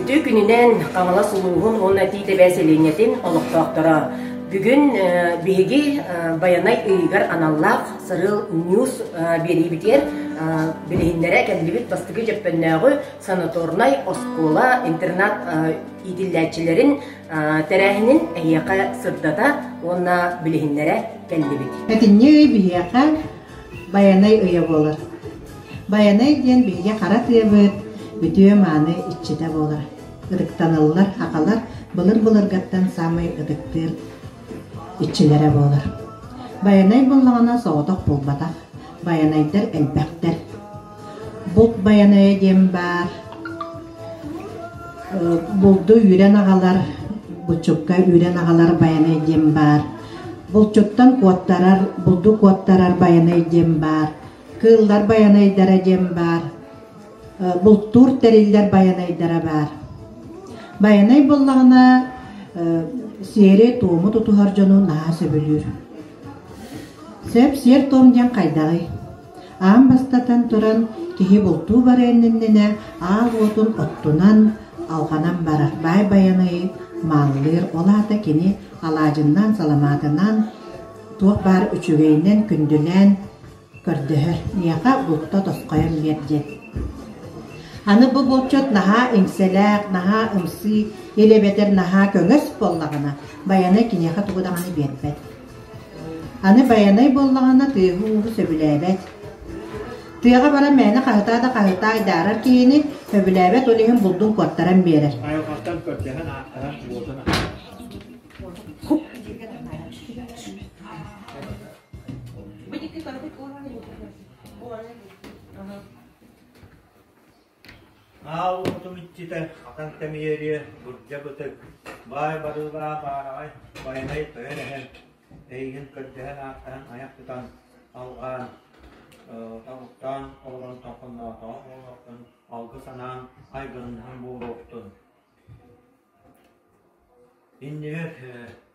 Үтүө күнүнэн Хаҥалас улууһун уонна Тиитэбэ сэлиэнньэтин олохтоохторо! Бүгүн биһиги Байанай ыйыгар аналлаах сырыыл ньуус биэриибитигэр билиһиннэрэ кэллибит бастакы дьөппөннөөҕү санаторнай оскуола интернат иитиллээччилэрин тэрээһинин эһиэхэ сырдата уонна билиһиннэрэ кэллибит. Этинньи ый биһиэхэ Байанай ыйа буолар. Байанай диэн биһиги хара тыабыт, үтүө-мааны иччитэ буолар. Ырыктаныллар акалар былыр-былыргаттан саамай ытыктыыр иччилэрэ буолар. Байанай буоллаҕына соҕотох буолбатах. Байанайдар элбэхтэр. Булт Байанайа диэн баар. Булду үүрэн аҕалар, булчукка үүрэн аҕалар Байанай диэн баар. Булчуттан куоттарар, булду куоттарар Байанай диэн баар. Кыыллар байанайдара диэн баар. Бултуур тэриллэр байанайдара баар. Байанай буоллаҕына сиэри-туому тутуһар дьону наһаа сөбүлүүр. Сөп сиэр-туом диэн хайдаҕый? Аан бастатан туран киһи бултуу бара иннинэ аал уотун оттунан, алҕанан барар. Баай байанайы мааллыыр. Ол аата кини алаадьыннаан, саламаатынаан, туох баар үчүгэйинэн күндүлээн, көрдөһөр: «Миэхэ булта тосхойон биэр» диэн. Аны бу булчут наһаа иҥсэлээх, наһаа ымсыы, ил эбэтэр наһаа көҥөс буоллаҕына, Байанай киниэхэ тугу даҕаны биэрбэт. Аны Байанай буоллаҕына тыаһыы-ууһу сөбүлээбэт. Тыаҕа баран мээнэ хаһытаа да хаһытаа айдаарар киһини, сөбүлээбэт ол иһин булдун куоттаран биэрэр. Бу дьикти торбут ууран буолан Аал урутум иччитэ атан тэмийэриэ бурдьа бытык баай барыылаах баараҕай байанай тойон эһэн эйигин көрдөһөн ааттаһан айах тутан алҕаан тобуктаан олорон толкунноотоҕо олортон алгы санаан айгырыннаһан буолуохтун иннибэт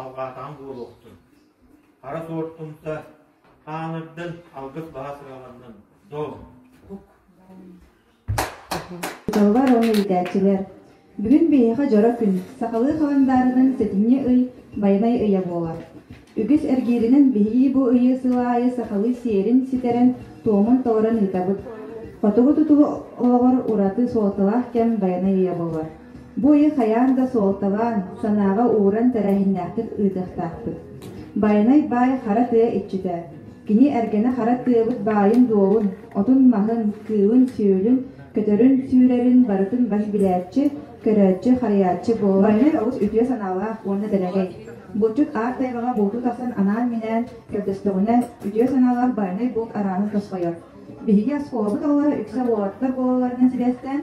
албаатаҕым буолуохтун. Хара туортумта хаанырдан алгыс баһа сыраҕаннан дом. Дьоллор уонна иитээччилэр Бүгүн биһиэхэ дьоро күн. Сахалыы халандаарынан сэтинньи ый байанай ыйа буолар. Үгүс эргииринэн биһирии бу ыйы сыл аайы сахалыы сиэрин ситэрэн, туомун толорон ыытабыт. Хотугу тутуу олоҕор ураты суолталаах кэм байанай ыйа буолар. Бу ыйы хайаан да суолталаан, санааҕа ууран тэрээһиннээхтик ыытыахтаахпыт. Байанай баай хара тыа иччитэ, кини эргэнэ хара тыабыт баайын-дуолун, отун-маһын, кыылын-сүөлүн, көтөрүн-сүүрэрин барытын баһы билээччи, көрөөччү-харыйааччы буолар. Байанай олус үтүө санаалаах уонна дэлэгэй. Булчут аар тайҕаҕа бултуу тахсан анаан-минээн көрдөстөҕүнэ, үтүө санаалаах Байанай булт араанын тосхойор. Биһиги оскуолабыт оҕолоро үксэ уолаттар буолалларынан сибээстээн,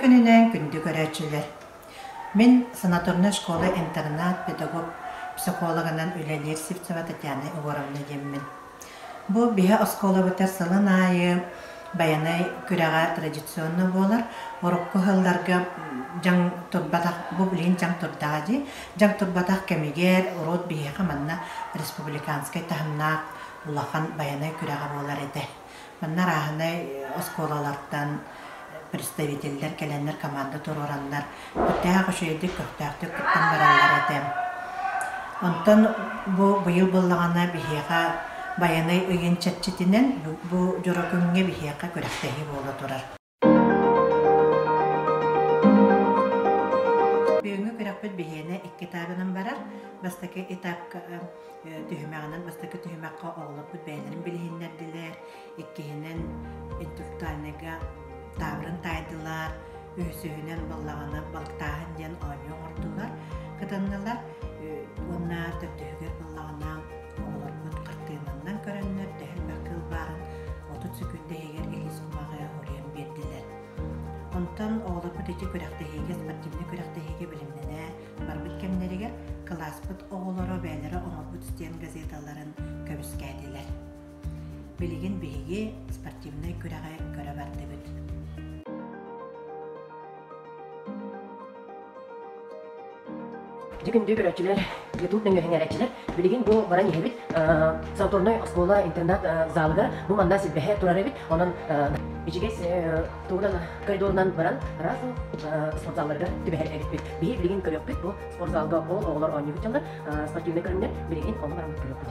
күнүнээн күндү көрөөччүлэр. Мин санаторная школа-интернат педагог психологынан үлэлиир Сивцева Татьяна Егоровна диэммин. Бу биһэ оскуолабытыгар сылын аайы Байанай күрэҕэ традиционно буолар, урукку сылларга дьаҥ турбатах, бу билигин дьаҥ турдаҕа дии, дьаҥ турбатах кэмигэр урут биһиэхэ манна республиканскай таһымнаах улахан байанай күрэҕэ буолар этэ. Манна арааһынай оскуолалартан представителлэр кэлэннэр, команда туруораннар күүттээх, үчүгэйдик, көхтөөхтүк кыттан бараллар этэ. Онтон бу быйыл буоллаҕына биһиэхэ Байанай ыйын чэрчитинэн бу дьоро күҥҥэ биһиэхэ күрэхтэһии буола турар. Бүгүҥҥү күрэхпит биһиэнэ икки этабынан барар. Бастакы этапка түһүмэҕинэн бастакы түһүмэххэ оҕолорбут бэйэлэрин билиһиннэрдилэр, Иккиһинэн, интеллектуальнайга таабырын таайдылар, үһүсүһүнэн баллаҕаны балыктааһын диэн оонньуу оҥордулар, кытыннылар уонна төрдүһүгэр баллаҕана оҕолорбут хартыынанан көрөннөр дэһэлбэр кылбаарын отут секунда иһигэр иккис кумаҕы уруйан биэрдилэр. Онтон оҕолорбут ити күрэхтэһиигэ, спортивнай күрэхтэһиигэ билимнэнэ барбыт кэмнэригэр кылааспыт оҕолоро бэйэлэрэ оҥорбут стен газеталарын көмүскээтилэр. Билигин биһиги спортивнай күрэҕи көрө бардыбыт Дьикимдүү көрөөччүлэр, YouTube нөҥүөһүҥээрэччилэр, билигин бу баран иһэбит санаторнай оскуола интернат-залыгар бу манна силбэһэ турар эбит. Онон Бичигэс тугунан коридорунан баран раз спортзалларга түбэһэрбэбитпит. Биһи билигин көрүөхпүт бу спортзалга ол оҕолор оонньуубут дьаллар спортивнай көрүҥнэр билигин ол баран көрүөхпүт.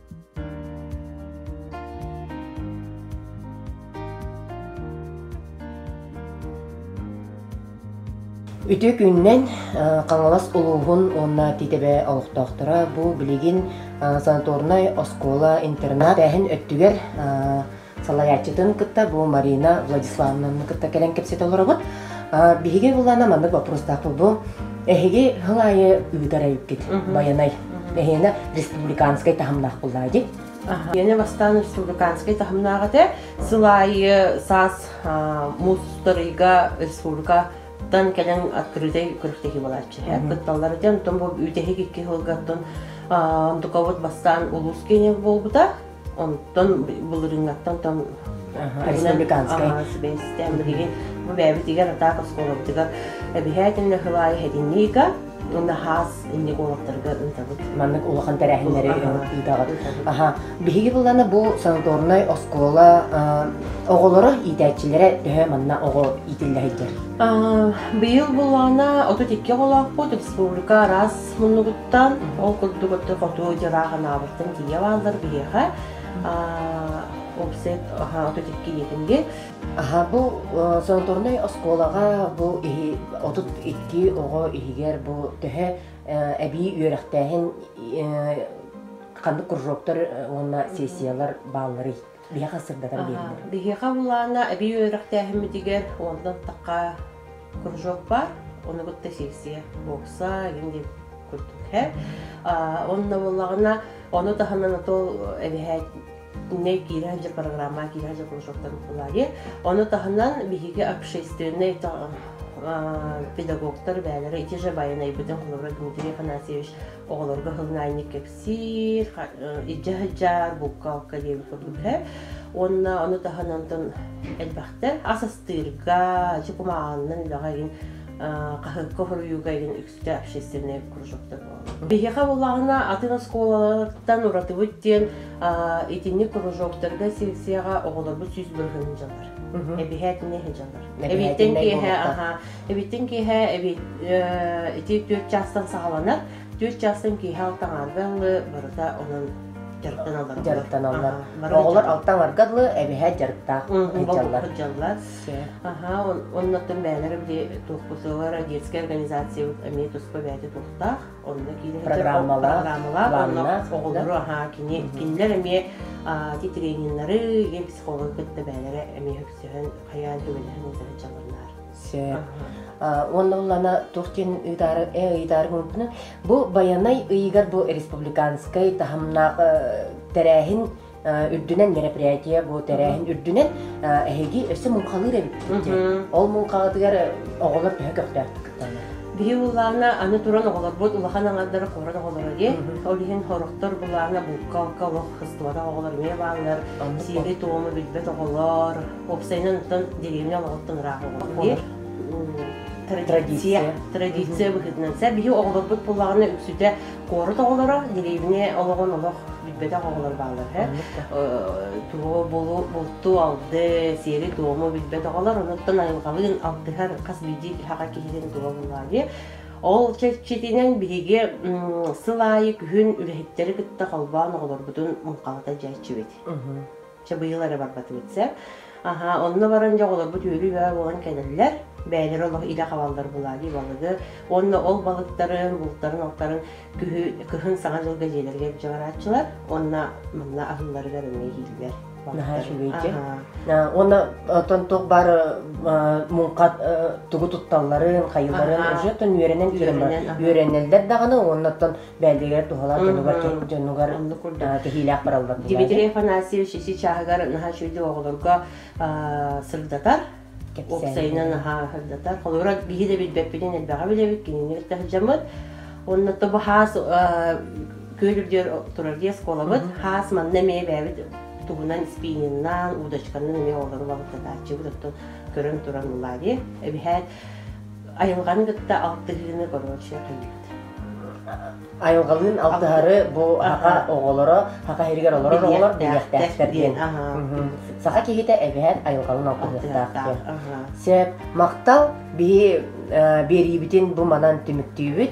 Үтүө күннэн Хаҥалас улууһун уонна Титэбэ олохтоохторо бу билигин санаторнай оскуола-интернат эһин өттүгэр салайааччытын кытта бу Марина Владиславовнаны кытта кэлэн кэпсэтэ олоробут. Биһиги буллаана маннык боппуруостаах булбу эһиги хыл аайы ыытар эйиккит Байанай. Эһиэнэ республиканскай таһымнаах буллаа ди. Яне бастаан республиканскай таһымнаах этэ. Сыл аайы саас мустарыйга республикаттан кэлэн открытай көрүхтэһи балааччы. Кытталлар этен, тон бу үтэһик икки хылгаттан Дукабыт бастаан улус кенев болбута. Онтон былырыыҥҥаттан там сибээстээн билигин бу бэйэбитигэр атаак оскуолабытыгар эбиһээтиннэ хылаай хэтинниика наһаас инник олохторго ыытабыт. Маннык улахан тэрээһиннэри ыытаҕыт. Аха, биһиги быланы бу санаторнай оскуола оҕолоро, иитээччилэрэ төһө манна оҕо иитиллэһиттэр? Быйыл булана 32 оҕолоохпут республика араас муннугут Оттон ол курдук отту хоту дьылаа ханаабыттан тиийэ бааллар биһиэхэ опсет ототикки диэтинги Аха бу санаторнай оскуолаҕа бу иһи отут икки оҕо иһигэр бу төһө эбии үөрэхтээһин ханнык кружоктар уонна сессиялар баалларый? биһиэхэ сырдатар биэринэр. Биһиэхэ былаана эбии үөрэхтээһиммитигэр онтон такка кружок бар, оны кытта сессия, бокса, инди курдук һэ. Онно боллагына ону таһынан атол эбэһэ не киирэн же программа киирэн же кружоктан булаги. Ону таһынан биһиги общественный педагогтар бээлери ити же байанай бүтүн Хлорой Дмитрий Афанасьевич оҕолорго хылнаайник сиир, илдьэ сылдьар буккалка диэн курдук иһэ. Уонна ону таһынан тон элбэхтэ ас астыырга, ачы кумааҕыннан үлэҕэ иһин хаһыакка хоруйууга иһин үксүтэ общественнай кружоктар буолар. Биһиэхэ буоллаҕына атын оскуолаларыттан уратыбыт диэн итинник кружоктарга секцияҕа оҕолорбут сүүс бырыһын дьалар. Эбиһээтинэ дьалар. Эбиттэн киэһэ аха, эбиттэн киэһэ эбит ити түөрт чаастан саҕаланар, Түөрт чаастан киэһэ алта аҥаарга ыллы барыта онон дьарыктан алларгаллар. Дьарыктан аллар. Оҕолор алта аҥарга ыллы эбэһэ дьарыктаах ыйдьаллар. Ыйдьаллар. Аха, оннуттан бэйэлэрэ били туохпутугар детскай организациябыт эмиэ туспа бэйэтэ туохтаах. Онно киирэн программалаах, онно оҕолору аhaa кини кинилэр эмиэ ити тренердары, психологы кытта бэйэлэрэ эмиэ үксүһэн хайаан түбэлэһэн утары дьалланнар. Уонна уллана тухтин ыытаарыгын бу байанай ыйыгар бу республиканскай таһымна тэрээһин үрдүнэн мероприятие бу тэрээһин үрдүнэн эһиги өссө муҥхалыыр эбит ол муҥхаҕытыгар оҕолор төһө көхтөөхтүк Биһи улаана аны туран оҕолорбут улахан аңардара куорат оҕолоро дии. Ол иһин хороктор булаана букка-алка олох хыстыбата оҕолор эмиэ бааллар. Сиэри-туому билбэт оҕолор, уопсайынан оттон деревня олоҕуттан ыраах оҕолор традиция традиция быһыытынан сэ биһи оҕолорбут буллаҕына үксүтэ куорат оҕолоро деревня олоҕун олох билбэтэх оҕолор бааллар һэ туо булу булту алды сиэри туому билбэт оҕолор онуттан айылҕалыын алтыһар хас биирдии хаха киһитин тула буллаабыйа ол чэрчитинэн биһиги сыл аайы күһүн үлэһиттэри кытта холбоон оҕолорбутун муҥхалата дьээччибит Чэ, быйыл эрэ барбатыбыт сэ. Аһаа, онно баран дьэ оҕолорбут үөрүү бөҕө буолан кэлэллэр. Бэйэлэрэ олох илэ хабаллар булаадьы балыгы. Уонна ол балыктарын, бултарын-алтарын күһү, кыһын саҥа дьылга дьиэлэригэр илдьэ барааччылар. Уонна манна аһыылларыгар эмиэ иһиллэр. Наһаа үчүгэйдик. Уонна оттон туох баар муҥха тугу тутталларын, хайыыларын уже оттон үөрэнэн киирэн баран үөрэнэллэр даҕаны, оннуттан бэйэтигэр туһалаах дьонугар кэһиилээх бараллар Дмитрий Афанасьевич ити чааһыгар наһаа үчүгэй оҕолорго сырдатар уопсайынан наһаа сырдатар холобура киһи да билбэппитин элбэҕи билэбит кинини кытта сылдьаммыт онно то хаас күөл үрдүгэр турар диэн оскуоламыт хаас манна эмиэ бэйэбит тугунан спининнаан удочканан эмиэ оҕолору балыктатааччыбыт оттон көрөн туран ылари эбиһээт Айылҕаны кытта алтыһыыны короче төлүүбүт. Айылҕалыын алтыһары бу саха оҕолоро, саха иһигэр олорор оҕолор билиэхтээхтэр диэн. Саха киһитэ эбээн айылҕалын алтыһыахтаах диэн. Сөп. Махтал биһи биэриибитин бу манан түмүктүүбүт.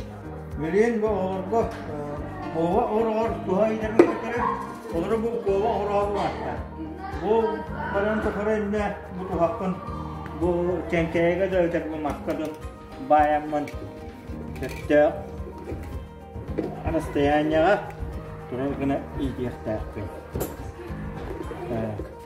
Мүлүөн бу оҕолорго куола ороҕор туһа ыйдарга көтөрө, олору бу куола ороҕо улаатта. Бу баран тохоро иннэ бу туһаппын, бу кэҥкэйэгэ да өтөрбү маска дын баайаммын төттөөх расстоянияҕа турар гына иитиэхтээхпин.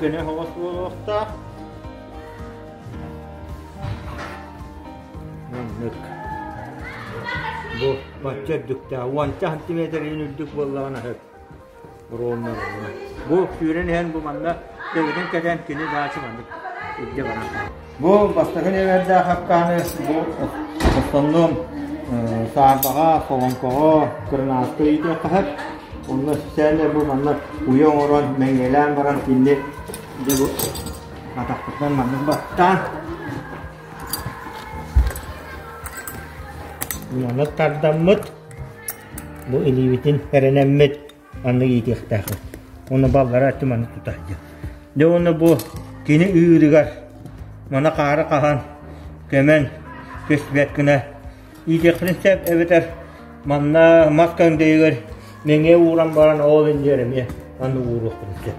Көнө оһоҕос буолуохтаах. Оннук. Бу бачча үрдүктээх. Уонча сантиметрийн үрдүк буоллаҕына сөп. Ровнанылар. Бу сүүрэн иһэн бу манна төбөтүн кэтэн кини баачы маннык илдьэ баран. Бу бастакы нүөмэрдээх хапкаһаны бу основном саарбаҕа, солоҥкоҕо, кырынааска ыытыахха Онно социальнай бу манна уйа оҥорон, мэҥиэлээн баран кинини дьэ бу атахпытынан маннык баттаан. Уйаны тардаммыт, бу илиибитин эрэнэммит аны иитиэхтээх уонна баллара өттү маннык тутар диэн. Дьэ уонна бу кини ыырыгар мана хаары хаһан көмөн көспүт гына иитиэхпин сөп эбэтэр манна мас көҥдөйүгэр мэҥэ ууран баран ол иннигэр эмиэ аны ууруохпун сөп.